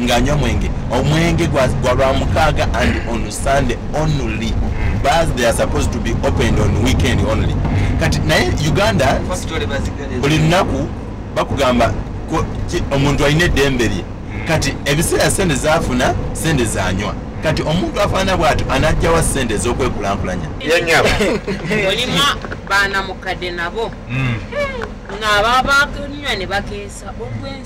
ng'anywa mwenge omwenge gwa gwa lwamukaaga and on sunday only bars they are supposed to be opened on weekend only kati naye uganda Pasitole bazigale. buli lunaku bakugamba ko- ki- omuntu alina eddembe lye kati ebiseera sente zafuna sente zanywa kati omuntu afaana bw'atyo anajjawa sente ez'okwekulankulanya yanyaba mulimu baana mukadde nabo Mm. ng'ababa bakenywa ne bakeesa olw'ensi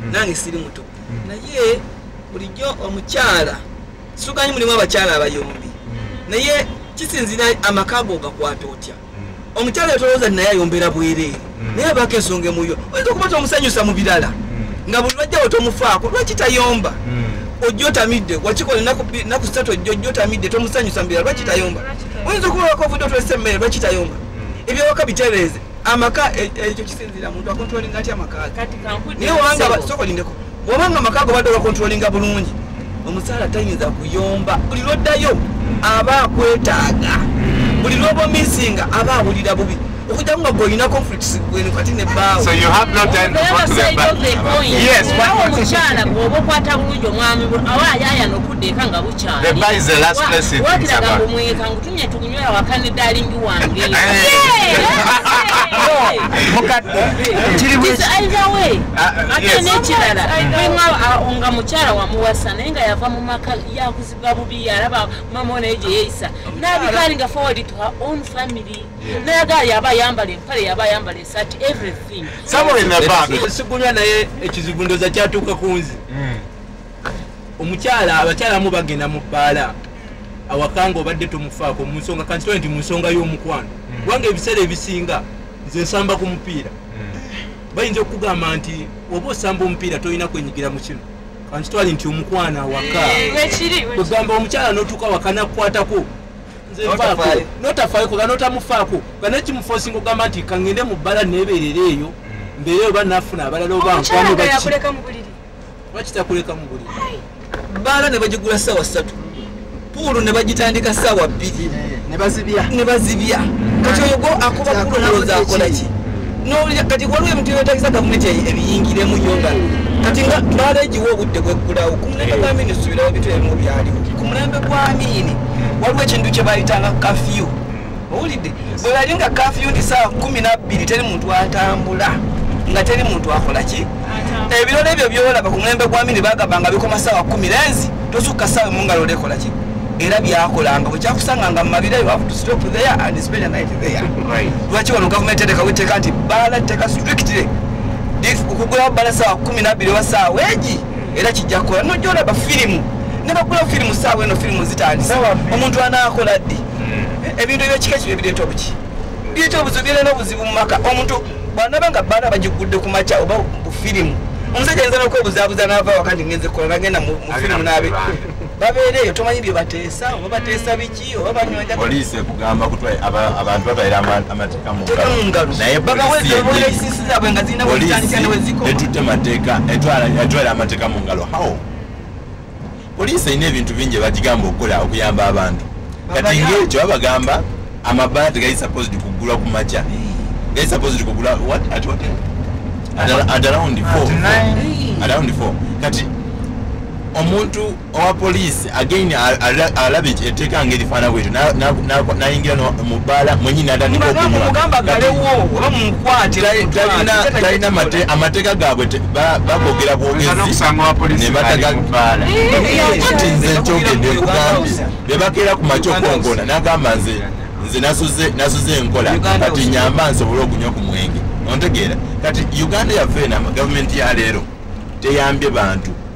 hmm. nange siri muto hmm. naye bulijjo omukyala suganyi mulimu abakyala abayombi hmm. naye kisinzira amaka go gakwata otya omukyala yatolooza naye ayombera bwereere naye abaako ensonga emuyo oyinza okuba tomusanyusa mu birala nga buli lwajjawo tomufaako lwaki tayomba ojja otamidde wakikola naku satu ojja ojja otamidde tomusanyusa mu birala lwaki tayomba oyinza okuba wakovude otolese emmere lwaki tayomba ebyawaka bitereeze amaka e, e, ekyo kisinzira muntu akontrolinga atya amaka naye obanga sokolindeko bwobanga amaka ago badde ogakontrolinga bulungi omusaala tayinza kuyomba buli lwoddayo aba akwetaaga buli lwoba omisinga aba awulira bubi okujamu nga gwolina conflicts gwenu kati ne baawo so you have not done what to the back yes what to chala bwobo kwata bulujo mwami awa yaya no kudeka nga buchala the bar is the last place in Sabah wakira ga mweka ngutumye nga mukyala wamuwasa naye nga yava mu maka yakuzibwa bubi yalaba mama onaye gye yeeyisa nabikaali nga forward to her own family nayagaa yaba ayambala empale yaba ayambala esati everything sigunywa naye ekizibu ndoza kyatuuka ku nzi hmm. omukyala abakyala mu bagenda mu bbaala awaka nga obadde tomufaako mu nsonga kankitole nti mu nsonga y'omukwano hmm. kubanga ebiseera ebisinga nze nsamba ku mupiira hmm. bayinza okukugamba nti oba osamba omupiira tolina kwenyigira mu kino kankitwale nti omukwano awaka kwegamba omukyala n'otuuka awaka nakukwatako notafayo koga notamufaako nga nekimufosinga okugamba nti kangende mu bbala neeberera eyo hmm. mbeere oba nafuna abalala oba nkwano bakitakulekamu buli bbaala ne bagigula ssaawa ssatu puulu ne bagitandika ssaawa bbiri ne bazibya kati oyo go akuba puulu nalowooza akola ki nowulira kati waliwo ebintu byetagisa gavumenti ebiyingiremu yo nga kati nga bbaala egiwa obudde bweggulawo ku mulembe gwa miini subirawo ebintu ebimu byaliwo ku mulembe gwa miini waliwo ekintu kye bayitanga kafyu owulidde bwe bali nga kafiyu ndi saawa kumi nabbiri teri muntu atambula nga teri muntu akola ki ebirolo ebyo byolaba ku mulembe gwa mini bagamba nga bikoma saawa kumi lenzi tosukka saawa emu nga lola ekola ki era byakolanga bwekyakusanga nga mumabira you have to stop there and spend a night there lwaki wano gavumenti tendekawo etteeka nti bala tteeka strictly okugulawo bala saawa kumi nabbiri oba saawa egi era kijja kukola nojolaba firimu nebagulawo firimu saawa eno firimu zitandise omuntu anaakola ddi hmm. ebintu ebyekika ekyo byebireeta obuki bireeta obuzibu bireeta n'obuzibu mu maka omuntu bwanaba nga baana bagigudde ku makya oba ku firimu omusajja ayinza n'okwebuzabuza n'ava waka nti ngenze kukola nagenda mu firimu n'abe babeera eyo tomanyi bye bateesa oba bateesa biki oba banywaapoliisi ekugamba kut abantu batwaire amateeka mungalonayepoliisi zaabwe nga zirina bwezitandika neweziko etutte mateeka etwala amateeka mu ngalo how poliisi erina ebintu bingi ebagigamba okukola okuyamba abantu kati ngaekyo babagamba amabaala tegali supposed kugulwa ku makya gali supposed kugula at what at around four around four kati omuntu owa poliisi again alaba eteeka nga erifaana bwetyo nayingira mu bbaala mwenyi natandika okunywa talina amateeka gaabwe bagogera bwogezibatitinze nkyogende kugambye bebakeera ku makyokongona nagamba nze nze nasuze enkola kati nyamba nsobole okunywa ku mwenge ontegeera kati uganda yaffe ena gavumenti ya leero teyambye bantu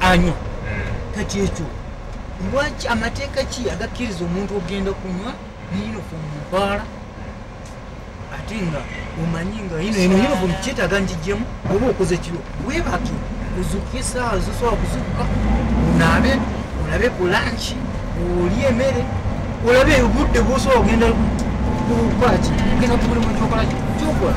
anywa kati ekyo lwaki amateeka ki agakkiriza omuntu okugenda kunywa neyinofu mubaala ate nga omanyi nga yinoyinofu kyetaaga njijjemu oba okoze kiro webaki ozuka esaawa zosobola kuzuka onaabe olabe ku lanki oli emere olabe obudde bwosobola okugenda kukwaki ogenda kumulimo gyokola gyokola